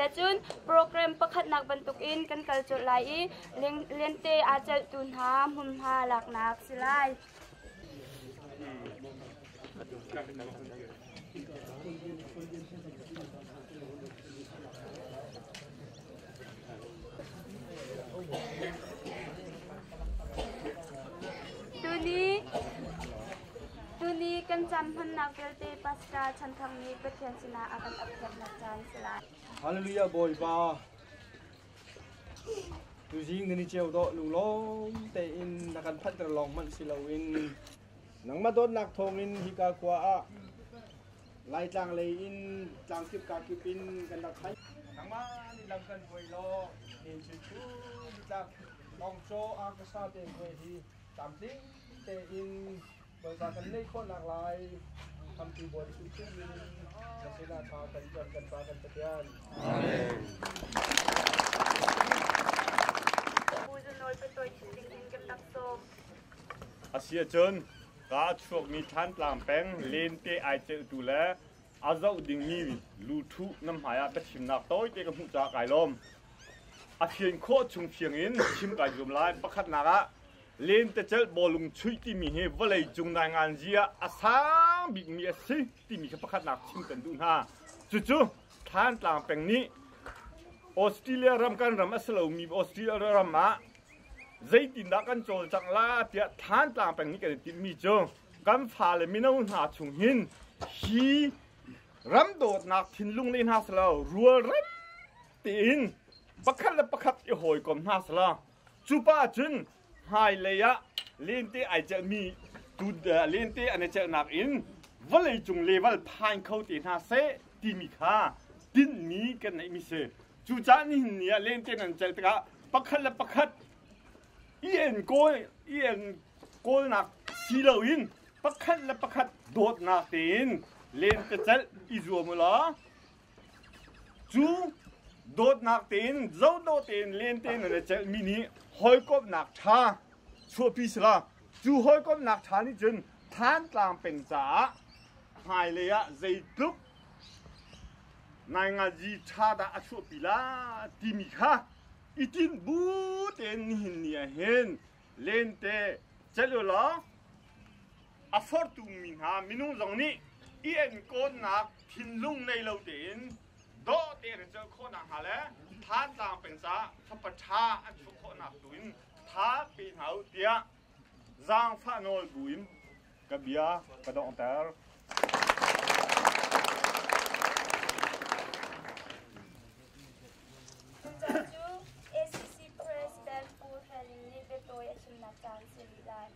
Tiahcun program pakhatnak bantukin kan kal colh lai i lente aa celhtu hna hmunhma laknak si lai. Tuni tuni kan caan hmannak vialte Pasca chan thang nih Pathian sinah a kan update nak caan si lai. Hallelujah Bawipa. Tuzing nan i ceu dawh lunglawm tein na kan phanhter lawng hmanh si loin nangmah dawtnak thawngin hika khua ah Laitlang lei in tlang kip ka kip in kan rak khai nangmah nih lam kan hruai law ni cu nitlak longcaw arkasa te hnuai hi tlamtling tein Bawipa kan ngeih khawhnak lai tampi buai hrimhrim in na sinah tha kan cam kan fa kan Pathian. Amen. Bawi Nawl Patawi Chising in kan tak cawm. A si ahcun kaa chuakmi Thlantlang peng lente ai celhtu le a zoh dingmi lu thuh nan hmaiah ka thimnak tawite ka hmuh caah kai lawm. A fian khawh chung thiang in chim kai zuam lai. Pakhatnak ah lentecelh bawlung chuih timi hi vawlei cung nainganzi ah a sang bikmi a si timi kha pakhatnak chim kan duh hna. Cucu Thlantlang peng nih Australia ram kan ram a si lomi Australia ram ah zeitindah kan cawlcangh la tiah Thlantlang peng nih kan i timhmi cu kan fale mino hna chung hin hi ram dawtnak thinlung le hna selaw rual ran tein pakhat le pakhat i hawikom hna selaw Cu pa cun hmailei ah lente ai celhmi lente an i celhnak in vawleicung level phain kho te hna seh timi kha tinhmi kan ngeihmi si. Cucaah nihin ni ah lente nan celh tikah pakhat le pakhat i en kawl i en kawlnak si loin pakhat le pakhat dawtnak tein lente celh i zuam u law Cu dawtnak tein, zodawh tein, len tein nan i celhmi nih hawikomhnak ṭha chuahpi sila, cu hawikomhnak ṭha nih cun Thantlang peng caah hmailei ah zeitluk naingazi ṭha dah a chuahpi lai timi kha i tinh bu tein nihin ni ahhin Lente celh ulaw a forhtumi hna minung zong nih i enkawnnak thinlung nei lo tein dawh tein an celh khawh nakhnga le thazaang peng caah fapa ṭha an hruh khawhnak tu in tha pe hna u tiah zaangfah nawl bu in ka bia ka donghter. Cucu ACC President Pu Helen nih biatawi a chimnak caan si rih lai.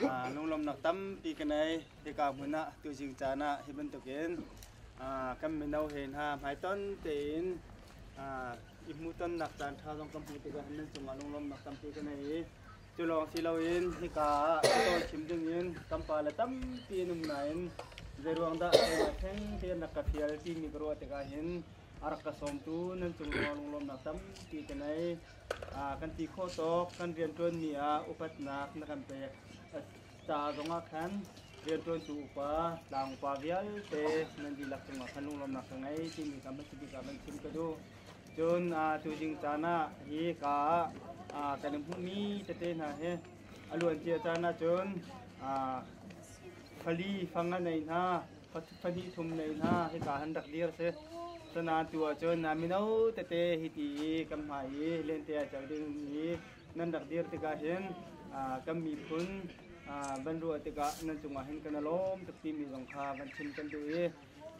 Ah, lunglawmnak tampi ka nei. Hika hmun ah tuzing caan ah hi bantukin ah, kan mino he hna hmaiton tein ah, i hmuhtonnak caan ṭha zong kan hmu tikah nan cungah lunglawmnak tampi ka nei i Cu lawng si loin hika ah ka tawlchim dingin kan pale tampi an um nain zeiruang dah keimah theng tein rak ka ṭhial timi ka ruah tikah hin a rak ka sawmtu nan cungrua lunglawmnak tampi ka nei. Ah, kan ti khawh tawk kan rianṭuanmi ah upatnak na kan pek ca zongah khan rianṭuantu upa, tlang upa vialte nan dihlak cungah khan lunglawmnak ka ngei timi kha hmasabik ah kan chim ka duh. Cun tu ding caan ah hi ka kan hmuhmi tete hna hi a luancia caan ahcun pali fang a nei hna pahnih thum nei hna hika han rak dir si cunan tu ahcun mino tete hiti i kan hmai i lente a cel ding i nan rak dir tikah hin kan miphun van ruah tikah nan cungah hin kan lawm tuk timi zong kha van chim kan duh i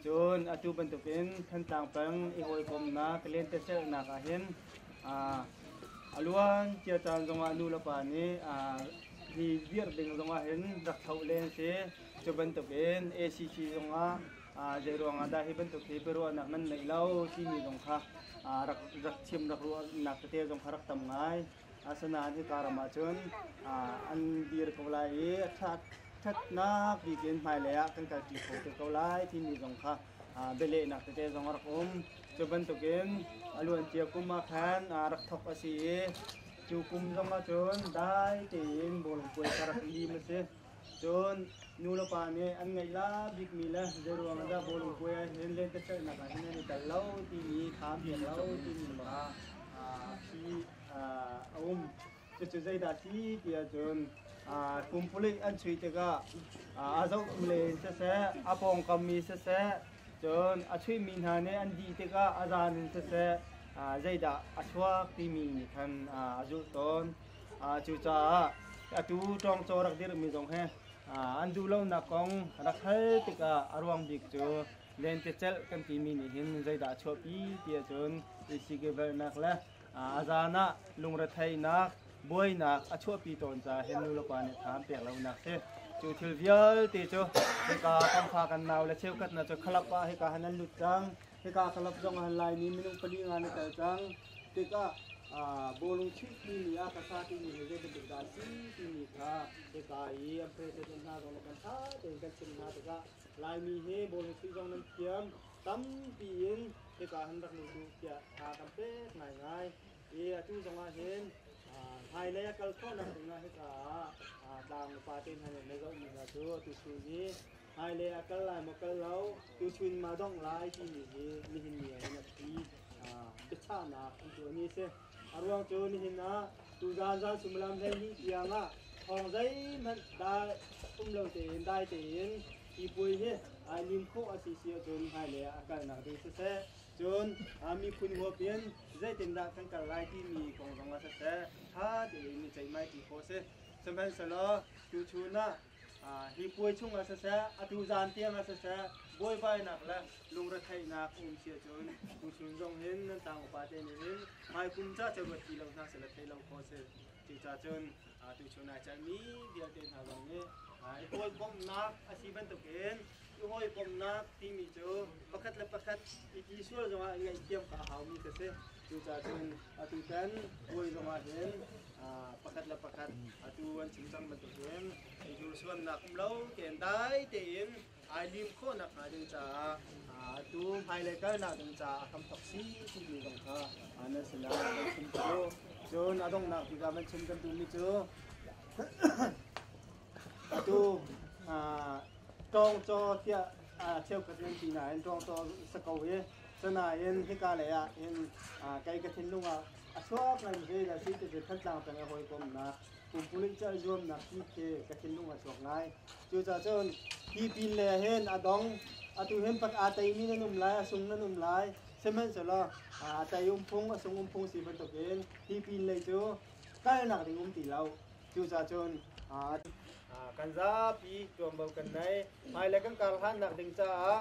Cun atu bantukin Thantlang peng i hawikomnak ka lentecelhnak ah hin a luan cia caan zongah nu le pa nih hi virh ding zongah hin rak thlauh len a si. Cu bantukin ACC zongah zeiruangah dah hi bantuk hi biaruahnak nan neih lo timi zong kha rak chim rak ruahnak tete zong kha rak tam ngai. Asinain hika ram ah cun an dir ko lai i ṭhatnak bikinn hmailei ah kan kalṭi kho te ko lai timi zong kha bialehnak tete zong a rak um. Cu bantukin a luancia kum ah khan rak thawk a si i cu kum zong ah cun dai tein bawi puai ka rak lim a si. Cun nulepa nih an ngeihla bikmi le zeiruang ah dah bawlungpuai ah hin lentecelhnak ah hin an i tel lo timi kha an pek lo timi lawng ah phi a um. Cucu zeidah a si ti ahcun kum palik an chuih tikah a zoh len siseh, a pawngkam mi siseh, cun a chuihmi hna nih an dih tikah a zan in siseh zeidah a chuak timi nih khan a zulh tawn. Cucaah atu ṭawngcaw rak dirhmi zong hi an duh lonak kong rak hal tikah a ruang bik cu lentecelh kan timi nih hin zeidah a chuahpi ti ahcun i tihkivelhnak le a zan ah lungretheihnak buainak a chuahpi tawn caah hin nulepa nih tha an pek lonak si. Cu thil vialte cu hika kan fa kan nau le cheukhat hna cu khalap ah hika hin an lut cang. Hika ka lap zong ahal Laimi minung pali nga na tel cang. Tikah bawlung chimhmi mi ah ka sa timi hi zeibantuk dah a si timi kha hika i an president hna zong kan ṭha tein kan chimh hna tikah Laimi hi bawlung chuih zong nan thiam tampi in hika han rak lut u tiah tha kan pek ngaingai i atu zong ah hin hmailei a kal khawhnak ding ah hika ah tlang upate hna nih na zohmi hna cu atu cu hi Hmailei ah kal lai maw kal lo, tuchun ma dongh lai timi hi nihin ni ah hin a phi biachahnak an tuah ni a si. A ruang cu nihin ah tuzaan zan sumilam hleihnih tiang ah thawng zeihmanh um lo tein dai tein tipuai hi ai lim khawh a si si ahcun hmailei ah a kalnak ding siseh cun miphun huap in zeitindah kan kal lai timi kong zong ah siseh ṭha tein i ceihmaiṭi khawh a si. Sihmanhsehlaw tuchun ah hi puai chungah siseh atu zan tiangah siseh buaibainak le lungretheihnak um sia cun tuchun zong hin nan tlang upate nih hin hmaikum ca ca ruat ti lo hna sela thei lo kho si cuca cun tuchun ai celmi vialte hna zong nih i pawlpomhnak a si bantukin i hawikomhnak timi cu pakhat le pakhat i ti sual zongah i ngaihthiam ka haumi kha si Cucaah cun atu can bawi zongah hin pakhat le pakhat atu an chim cang bantukin i hnursuannak um lo tein dai tein ai lim khawh nakhnga ding caah atu hmailei kalnak ding caah a hram thok si ti ding zong kha nan sinah kan chim cu cun a donghnak bik ah man chim kan duhmi cu atu tawng caw tiah cheukhat in ti nain tawng caw sako hi Sanain hika lei ah hin kei ka thinlung ah a chuak ngai mi zeidah si ti cu Thantlang peng a hawikomnak pumpululh celh zuamnak hi khi ka thinlung a chuak ngai. Cucacun hi pin le hin a dong atu hin pat aa teimi nan um lai a sung nan um lai sihmanhsehlaw a tei umphung a sung umphung si bantuk in hi pin lei cu kalnak ding um ti lo cucacun kan zapi tuanvo kan nei hmailei kan kar hlannak ding caah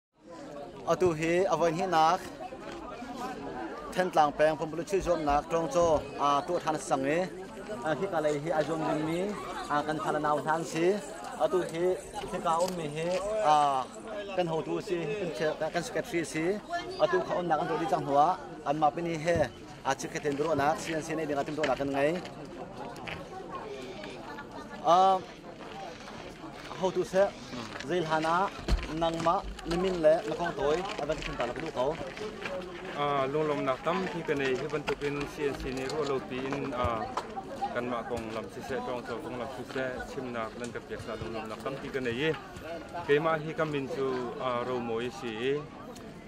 Atu hi a voihnihnak Thantlang peng pumpulun chuih zuamnak ṭawngcaw aa ṭuah ṭhan a sang i hika lei hi ai zuam dingmi kan fale nau hna an si. Atu hi hika ummi hi kan hotu a si, kan secretary a si. Atu kha umnak an rawh dih cang hnuah anmah pini he chikkhatin biaruahnak CNC nei dingah timhtuahnak kan ngei. Ahotu seh, zei hlan ah nangmah na min le na kong tawi a van thlen ta na ka duh ko. lunglawmnak tampi ka nei hi bantukin CNC nih ruah lo piin kanmah kong lam siseh ṭawngco kong lam siseh chimnak nan ka pek caah lunglawmnak tampi ka nei i keimah hi ka min cu Romawi si i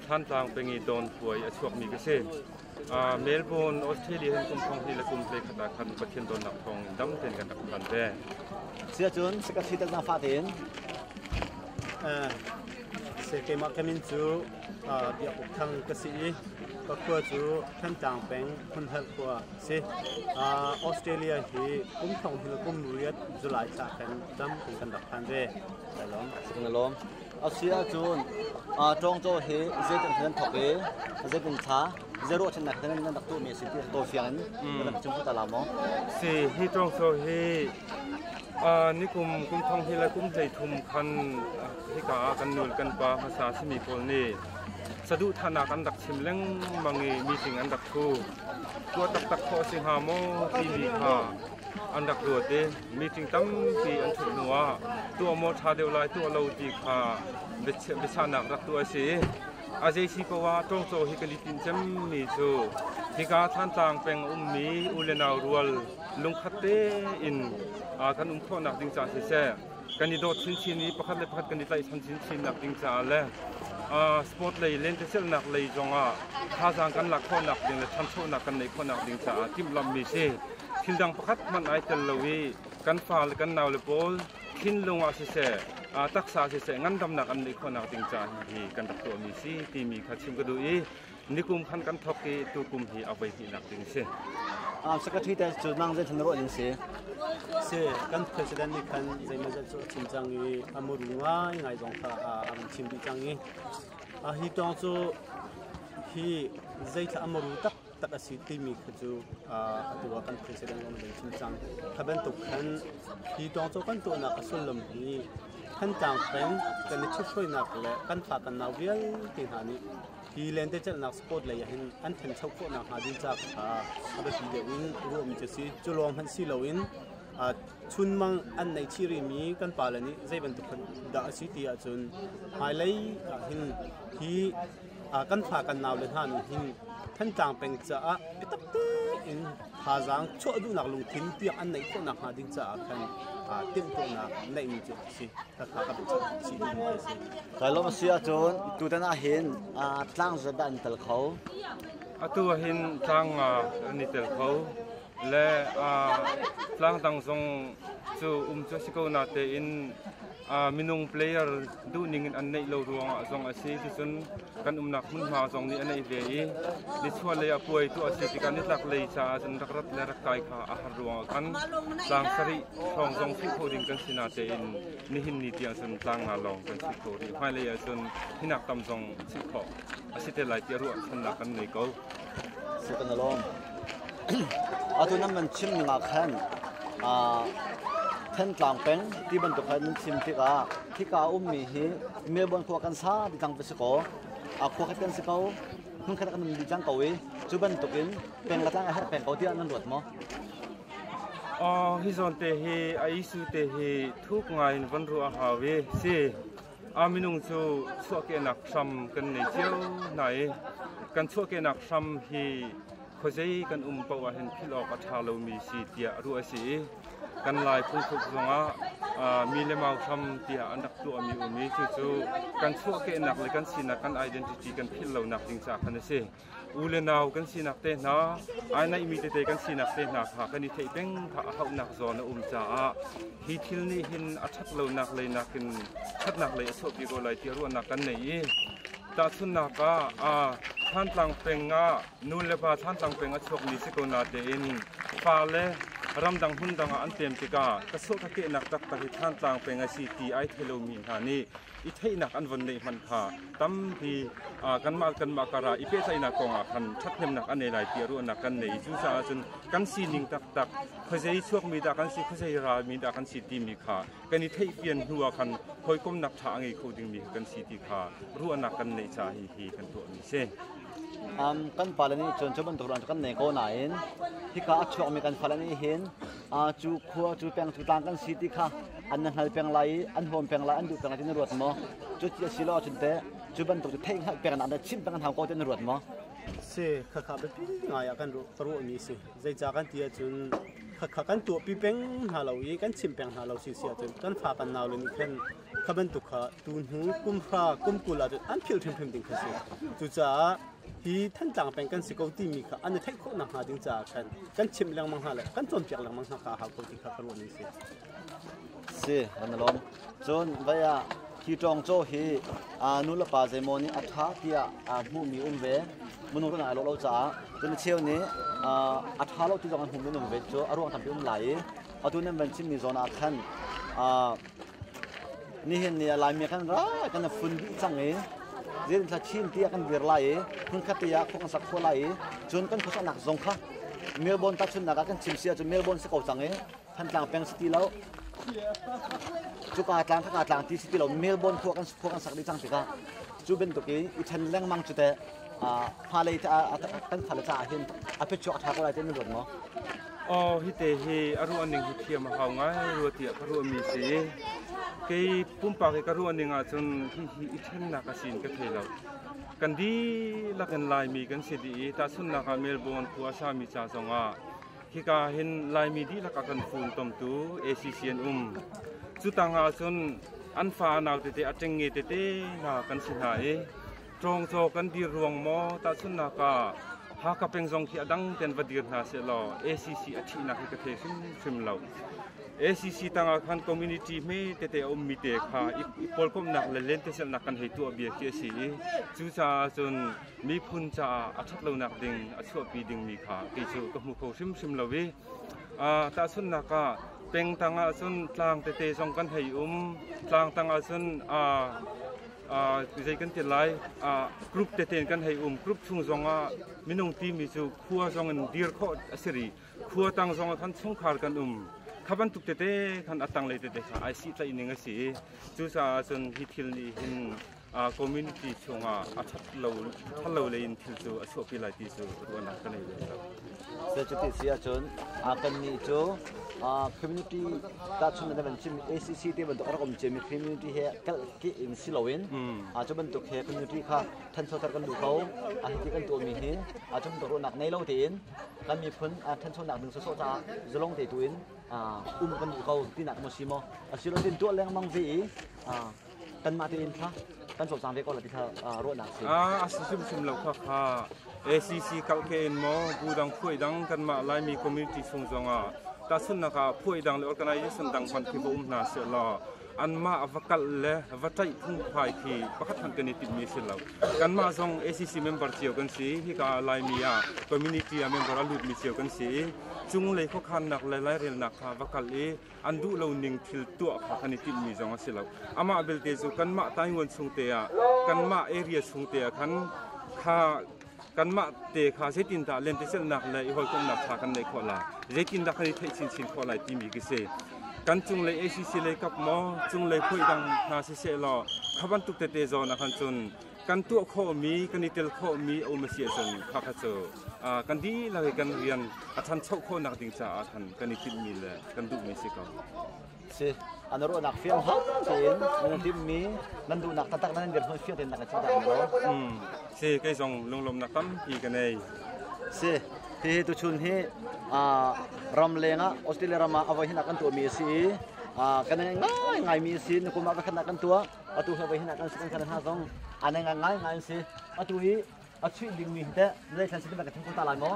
Thlantlang peng i Dawnpuai a chuakmi ka si. Melbourne, Australia hin kum thong hnih le kum hlekhat ah khan Pathian dawtnak thawng in dam tein kan rak hman ve. Siahcun sika thlitak na fa tein keimah kamin cu biakuk thang ka si i ka khua cu Thantlang peng Phunhal khua si. Australia hi kum thong hnih le kum riat July thla khan dam kan rak phan ve. Lai lawm. Kan lawm. A si ahcun ṭawngcaw hi zeitin hin an thawk i zeitin thla zei ruahchannak hin an rak tuahmi a si ti tawi fiang in kan rak chim ta la maw? Si, hi ṭawngcaw hi nikum kum thong hi le kum hleithum khan hika ah kan nul kan pa hmasa a simi pawl nih saduhthahnak an rak chim lengmang i meeting an rak thu. Tuah taktak khawh a si hnga maw timi kha an rak ruat i meeting tampi an ṭhut hnuah tuah maw ṭha deuh lai tuah lo ti kha biachahnak rak tuah a si i a zeisi poah ṭawngcaw hi kan i tinh cemmi cu hika Thantlang peng a ummi u le nau rual lungkhat tein kan um khawhnak ding caah siseh kan i dawt chinchin i pakhat le pakhat kan i tlaihchan chinchinnak ding caah le sport lei lentecelhnak lei zongah thazaang kan lak khawhnak ding le ṭhanchonak kan neih khawhnak ding caah timhlamhmi si thil dang pakhat hmanh ai tel lo i kan fa le kan naule pawl thinlung ah siseh, taksa siseh ngandamnak an neih khawhnak ding ca hi kan rak tuahmi si timi kha chim ka duh i nikum khan kan thawk i tukum hi a voi hnihnak ding si. Secretary te cu nang zeithan na ruah ning si? Si, kan president nih khan zeimazat cu a chim cang i a mur ngai ngai zong kha a rung chim dih cang i a hi tawng cu hi zeithla a maru tak tak a si timi khi cu atu ah kan president an van chim cang. Kha bantuk khan hi tawng cu kan tuahnak a sullam hi Thantlang peng kan i ṭhithruainak le kan thlakannak vialte hna nih hi lentecelhnak sport lei ahhin an ṭhancho khawhnak hnga ding ca kha a biapi deuh in ruahmi cu si cu lawng hmanh si loin chunmang an nei chirimi kan pale nih zei bantuk dah a si ti ahcun hmailei ahhin hi kan fa kan nau le hna nih hin Thantlang peng caah biatak tein thazaang chuah duhnak lungthin tiang an neih khawh nakhnga ding caah khan timhtuahnak neihmi cu a si kakha ka Kai lom si ahcun tutan ah hin tlang zabe an tel kho atu ah hin tlang an i tel kho le tlang dang zong cu um cu a si ko natein minung player duhning in an neih lo ruangah zong a si ticun kan umnak hmunhma zong nih a neih ve i nichuah lei a puai tuah a si tikah nitlak lei caah cun rak rat le rak kai kha a har ruangah khan tlang sarih hrawng zong philh kho ding kan si natein nihin ni tiang cun tlang nga lawng kan si kho rih hmailei ah cun hinak tam zong chilh khawh a si te lai ti ruahchannak kan ngei ko Atu nan van chim ning ah khan Thentlang peng ti bantuk khan nan chim tikah hika a ummi hi Melbourne khua kan sa ti cang va si kaw a khua khat kan si ko hmun khat kan nan di cang ko i cu bantuk in peng le tlang a herh peng ko tiah nan luat maw? Oh, hi zawn te hi a isu te hi thuk ngai in van ruah hau i si. a minung cu chuahkehnak hram kan nei cio hna i kan chuahkehnak hram hi khuazei kan um paoh ah hin philh awk a ṭha lomi si tiah ruah a si i kan lai phungthluk zongah mi le mau hram tiah an rak tuahmi um i cucu kan chuahkehnak le kan sinak kan identity kan philh lonak ding ca khan a si. u le nau kan sinak te hna, ai naihmi tete kan sinak te hna kha kan i theih peng a hauhnak zawn a um caah hi thil nih hin a ṭhat lonak lei nakin ṭhatnak lei a sawhpi ko lai tiah ruahnak kan nei i tahchunhnak ah Thantlang peng ah nu le pa Thantlang peng a chuakmi si ko natein fale ramdang hmun dang ah an tlem tikah ka suah ka kehnak taktak hi Thantlang peng a si ti ai thei lomi hna nih i theihnak an von neih hmanh kha tampi kanmah kanmah kara i pehtlaihnak kongah khan ṭhathnemnak an nei lai tiah ruahnak kan nei i cucaah cun kan sining taktak khuazei chuakmi dah kan si khuazei ralmi dah kan si timi kha kan i theihfian hnuah khan hawikomnak ṭha a ngei kho dingmi kan si ti kha ruahnak kan neih ca hi hi kan tuahmi si. Um, kan pale nih cun cu bantuk kan nei ko nain hika a chuakmi kan fale nih hin cu khua cu peng cu tlang kan si ti kha an na hngal peng lai i an huam peng lai an duh peng lai ti na ruat maw cu ti a si lo ahcun teh cu bantuk cu theih hngalh peng na chim peng hau ko ti na ruat maw si khakha biapi ngai ah kan ka ruahmi si zeicah kan ti ahcun khakha kan tuahpi peng hna lo i kan chim peng hna lo si si ahcun kan fa kan nau le nih khan Kha bantuk kha tuhnu kumhra kumkul ah an philh hrimhrim ding kha si. Cucaah hi Thantlang peng kan si ko timi kha an i theih khawh nakhnga ding caah khan kan chimh lengmang hna le kan cawnpiak lengmang hna kha a hau ko ti kha ka ruah ning si. Si, van alawm. Cun vai ah hi ṭawng caw hi aa nu le pa zeimaw nih a ṭha tiah aa hmuhmi um ve. Minung kan ai lo lo caah cun a cheu nih a ṭha lo ti zong an hmuhmi um ve cu a ruang tampi um lai i atu nan van chimmi zawn ah khan Nihin ni ah Laimi kan ra kan a fun dih cang i zin thlachin ti ah kan dir lai i hmunkhat ti ah khua kan sak khawh lai i cun kan khuasaknak zong kha Melbourne tahchunhnak ah kan chim si ahcun Melbourne si ko cang i Thantlang peng si ti lo cuka tlang khaka tlang ti si ti lo Melbourne khua kan khua kan sak dih cang tikah cu bantuk i i then lengmang cu teh fa lei te kan fale caah hin a phichuak a ṭha ko lai ti na ruat maw? Oh, hite hi a ruah ning hi thiam a hau ngai rua tiah ka ruahmi si i kei pumpak i ka ruah ning ahcun hihi i ṭhennak a sin ka thei lo. Kan dihlak in Laimi kan si dih i tahchunhnak ah Melbourne khua a sami ca zongah hika hin Laimi dihlak a kan funtomtu ACC an um. Cu tang ahcun an fa a nau tete a ṭengnge tete hna kan si hna i Cawngcaw kan dir ruang maw tahchunhnak ah Haka peng zong khi a dang ten va dir hna seh law ACC a thihnak hi ka thei hrimhrim lo. ACC tangah khan community me tete a ummi te kha i pawlkomhnak le lentecelhnak kan hei tuah bia khi a si i cucaah cun miphun caah a ṭhat lonak ding a chuahpi dingmi kha kei cu ka hmu kho hrimhrim lo i tahchunhnak ah peng tang ah cun tlang tete zong kan hei um tlang tang ah cun zei kan ti lai group tete in kan hei um group chung zongah minung timi cu khua zongin dir khawh a si rih khua tang zongah khan chungkhar kan um kha bantuk tete khan atang lei tete kha ai si tlaihning a si i cucaah cun hi thil nih hin community chungah a that lo lei in thil cu a chuahpi lai ti cu ruahnak ka nei ve lo Cuti si ahcun kannih cu community tahchunh in cimmi ACC te bantuk a rak um cimi community he kalhkih in si loin cu bantuk he community kha ṭhanchoter kan duh ko a hiti kan tuahmi hi a ṭhanchonak nei lo tein kan miphun ṭhanchonak ding sawsawh caah zalong te tu in um kan duh ko tinak maw si maw a si lo tin tuah lengmang ve i kanmah tein kha kan sawsang ve ko la ti kha ruahnak a si. Ah, a si hrimhrim lo kha kha ACC kalke in maw bu dang phuai dang kanmah Laimi community chung zongah tahchunnak ah phuai dang le organization dang hman khi va um hna se law anmah va kal le va ṭaih phungphai khi pakhat hmanh kan i timmi si lo kanmah zong ACC member cio kan si hika Laimi ah community ah member a lutmi cio kan si i cung lei khuakhannak le lairelnak kha va kal i an duh lo ning thil tuah kha kan i tinhmi zong a si lo. Amah belte cu kanmah Tainguan chung te ah, kanmah area chung te ah khan kha kanmah te kha zeitindah lentecelhnak le i hawikomhnak ṭha kan neih khawh lai, zeitindah kan i theih chinchin khawh lai timi khi si. Kan cunglei ACC lei kap maw, cunglei hruai dang hna siseh law, kha bantuk tete zawn ah khan cun kan tuah khawhmi, kan i tel khawhmi a um a si ahcun khakha cu kan dihlak i kan rian a ṭhancho khawhnak ding caah khan kan i tinhmi le kan duhmi si ko. Si. A na ruahnak fiangfak tein nung timmi nan duhnak taktak nan dirhmun fiang tein na ka chimhtak na lo. Mm. Si, kei zong lunglawmnak tampi ka nei. Si, hihi tuchun hi ram leng ah Australia ram ah a voi hinak kan tuahmi a si i kan ngai ngaimi a si. Nikum ah vakhatnak kan tuah. atu he voi hin kan kan kala hna zong an ngai ngai ngai an si atu i a chuih dingmi hi teh zeithlan si ka theng ko ta lai maw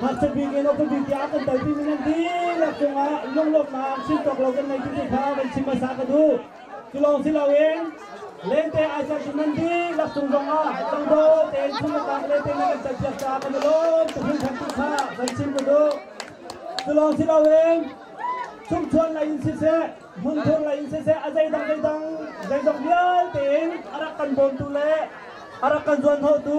Ngakchia bik in uk bik tiah a kan telpi mi nan dihlak cungah lunglawmhnak chim tawk lo kan nei ti kha kan chim hmasa ka duh. Cu lawng si loin lente ai serh cu nan dihlak cung zongah dangdol tein phungtang lente nan kan serpiak caah kan i lawm tuk hringhran ti kha kan chim ka duh. Cu lawng si loin chungchuan lei in siseh hmunthur lei in siseh a zeidang zeidang zeizong vialte in a rak kan bawmtu le a rak kan zuanhnawhtu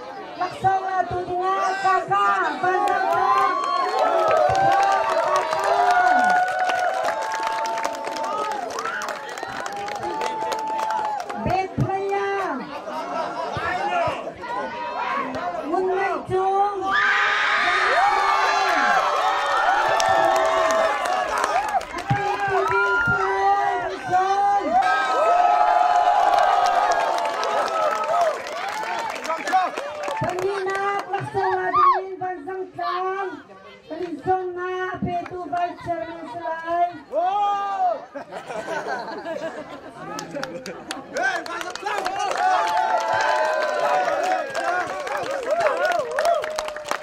Taksa ngatu dingah Kaka Bed player Ngun Ngai Cung Pahnihnak, Laksola dingin vanzangtlang pali zawnnak petu Vice Chairman si lai.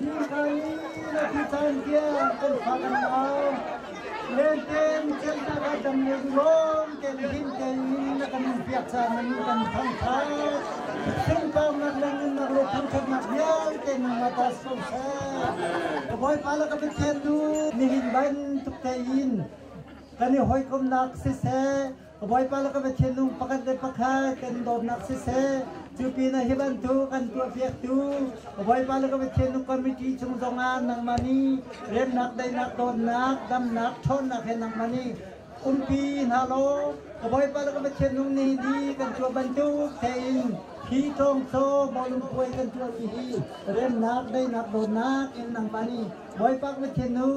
Dirhmun na tutan tiang kan fak an mau. Lenten ceihnak ah dam le duhawm tein him tein na kan in piak caan nan kan thangthat. Pengpangnak le nunnak lo thangthatnak vialte nung ma ta so sa. Ka bawipa la ka pathian nu nihin ban tuk te in kan i hoikomnak siseh Ka Bawipa le ka Pathiannu pakhat le pakhat kan dawtnak siseh, cu pinah hi bantuk an tuahpiaktu ka Bawipa le ka Pathiannu committee chung zongah nangmah nih remnak, daihnak, dawtnak, damnak, ṭhawnnak he nangmah nih umpi hna law ka Bawipa le ka Pathiannu nihin hi kan tuah bantuk tein hi ṭawngcaw bawlungpuai kan tuahmi hi remnak, daihnak, dawtnak in nangmah nih Bawipa ka Pathiannu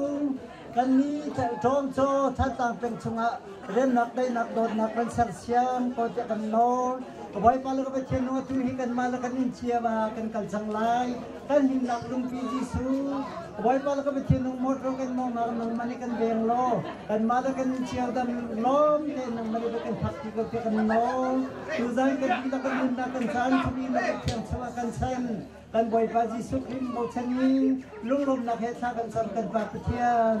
Kannih thelhṭawm caw Thazaang peng chungah remnak daihnak dawtnak van sersiam ko tiah kan nawl. Bawipa le ka Pathian atu hi kanmah le kan in ciam ah kan kal cang lai. Kan himnak lungpi Jesuh, Bawipa le ka Pathian nungmawt ro kan nawngnak nungman i kan veng law kanmah le kan in ciaodam lawm tein nungman i va kan phak ti ko tiah kan nawl. Tuzan kan dihlak kan nunnak kan caan chung i na Pathian chungah kan sen. Kan Bawipa Jesuh Khrih bochanmi lunglawmnak he thla kan cam kan Pa Pathian